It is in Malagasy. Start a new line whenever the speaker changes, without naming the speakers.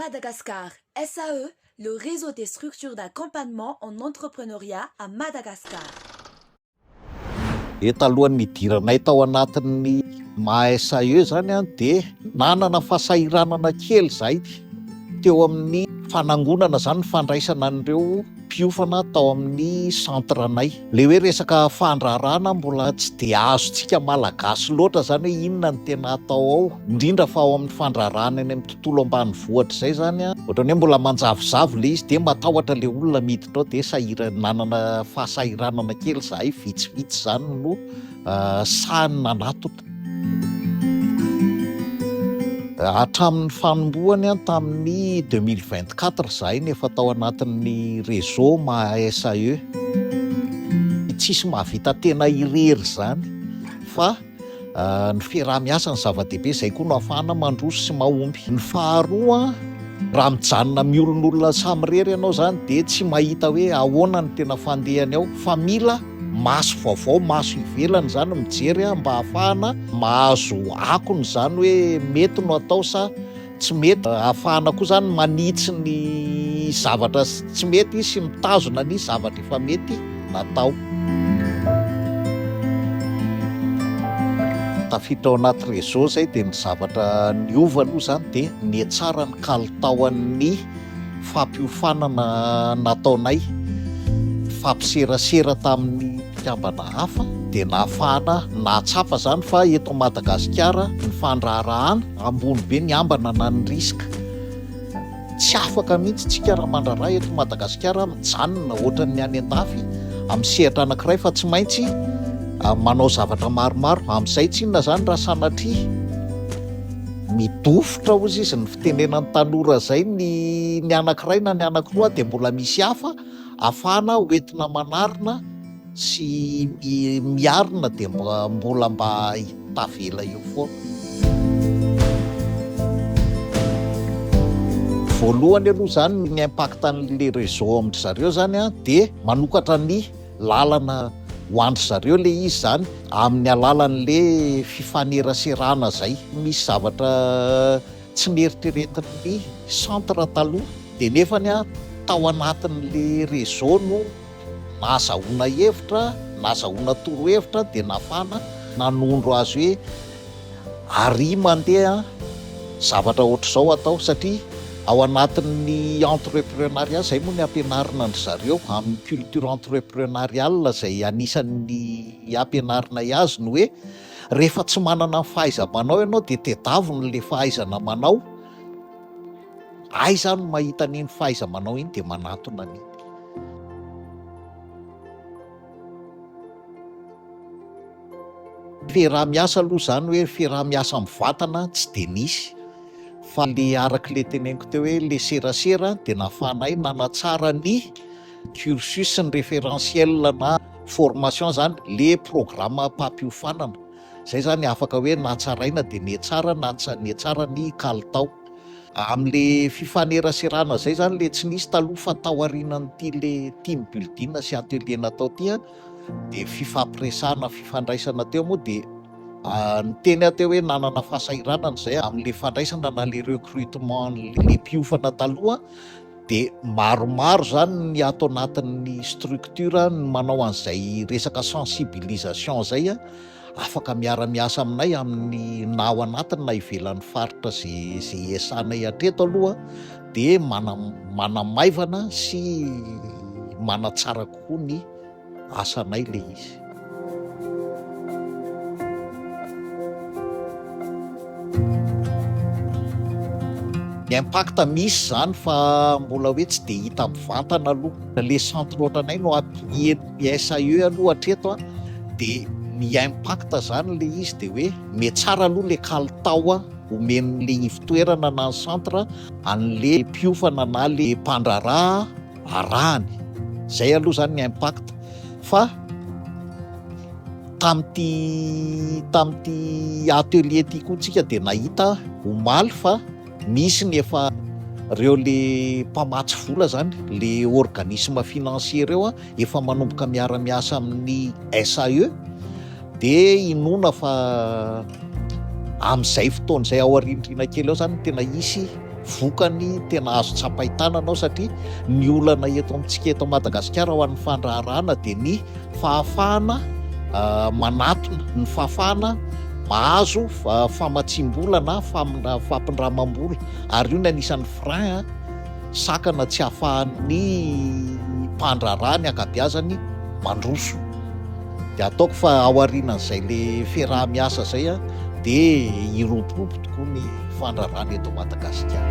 Madagascar SAE, le réseau des structures d'accompagnement en entrepreneuriat à Madagascar. Dia talohan'ny nidiranay tao anatin'ny maha SAE zany an, dia nanana fahasahiranana kely zahay teo amin'ny fanangonana zany ny fandraisana an'ireo. mpiofana tao amin'ny centre anay. Ilay hoe resaka fandraharahana mbola tsy dia azontsika Malagasy loatra izany hoe inona no tena atao ao, indrindra fa ao amin'ny fandraharahana eny amin'ny tontolo ambanivohitra izay izany an, ohatran'ny hoe mbola manjavozavo ilay izy dia matahotra ilay olona miditra ao dia sahira- nanana fahasahiranana kely izahay, vitsivitsy izany no sahy nanatona. Hatramin'ny fanombohany tamin'ny deux mille vingt quatre izahay no efa tao anatin'ny réseau maha-SAE. Tsisy mahavita tena irery izany fa ny fiaraha-miasa no zava-dehibe, izay koa no ahafahana mandroso sy mahomby. Ny faharoa, raha mijanona miolonolona samirery ianao izany dia tsy mahita hoe ahoana no tena fandehany ao fa mila maso vaovao, maso ivelany izany mijery a, mba hahafahana mahazo akony izany hoe mety no atao sa tsy mety, hahafahana koa izany manitsy ny zavatra tsy mety sy mitazona ny zavatra efa mety natao. Tafiditra ao anaty réseau izay dia ny zavatra niova aloha izany dia nihatsara ny kalitaon'ny fampiofanana nataonay, fampiserasera tamin'ny mpikambana hafa dia nahafahana nahatsapa izany fa eto Madagasikara ny fandraharahana ambony be ny ambana na ny risque. Tsy afaka mihitsy tsika raha mandraharaha eto Madagasikara mijanona ohatran'ny any an-dafy amin'ny sehatra anankiray fa tsy maintsy ah, manao zavatra maromaro amin'izay tsinona izany raha sanatria midofotra hozy izy ny tenenan'ny tanora izay ny ny anankiray na ny anankiroa dia mbola misy hafa afahana hoentina manarina sy miarina dia mbola mba tavela eo foana. Voalohany aloha izany ny impact an'le réseau amin-dry zareo izany dia manokatra ny lalana ho an-dry zareo le izy zany amin'ny alalan'le fifaneraserana zay, misy zavatra tsy neritreretin'ny centre taloha de nefany an tao anatin'le réseau no nahazahoana hevitra, nahazahoana torohevitra de nafana nanondro azy hoe. Ary mandeha zavatra ohatr'izao atao satria ao anatin'ny entreprenariat, izay moa ny ampianarina an-dry zareo amin'ny culture entreprenariale izay anisan'ny ampianarinay azy ny hoe rehefa tsy manana ny fahaiza-manao ianao dia tedavina ilay fahaizana manao, aiza aho no mahita an'iny fahaiza-manao iny dia manatona an'iny. Fiaraha-miasa aloha izany hoe fiaraha-miasa mivatana tsy dia nisy fa le araka le teneniko teo hoe le serasera dia nahafahanay nanatsara ny cursus ny référentiel na formation izany le programam-pampiofanana, izay izany afaka hoe natsaraina dia nihetsara na nietsara ny kalitao. Amle fifaneraserana zay zany le tsy nisy taloha fa taoarinan'ity le team building sy atelier natao ty an, de fifampiresahana fifandraisana teo moa de niteny aho teo hoe nanana fahasahiranana zay amle fandraisana na le recrutement le mpiofana taloha de maromaro zany ny ato anatin'ny structure ny manao an'izay resaka sensibilisation zay an, afaka miara-miasa aminay amin'ny na ao anatiny na ivelan'ny faritra izay izay iasanay hatreto aloha dia mana- manamaivana sy manatsara kokoa ny asanay le izy. Ny impact misy izany fa mbola hoe tsy dia hita mivantana aloha. Le centre ohatranay no ampiheno. SAE aloha hatreto dia ny impact zany le izy dia hoe me tsara aloha le kalitao omen'le ivotoerana na ny centre an'le mpiofana na le mpandraharaha arahany zay aloha zany ny impact fa tam'ty tam'ty atelier ty koa tsika dia nahita omaly fa Misy ny efa reo le mpamatsy vola zany, le organisme financier reo a, efa manomboka miara miasa amin'ny SAE, de inoana fa amin'izay fotoana izay ao arindrina kely ao zany tena hisy vokany tena azo tsapain-tanana ao satria ny olana eto amintsika eto Madagasikara ho an'ny fandraharahana de ny fahafahana manatona, ny fahafahana mahazo famatsiam-bola na fampindramam-bola ary io no anisan'ny frein sakana tsy ahafahan'ny mpandraharaha ny ankabiazany mandroso de ataoko fa ao arinan'izay le fiaraha-miasa zay a de hiromporopo tokoa ny fandrarana eto Madagasikara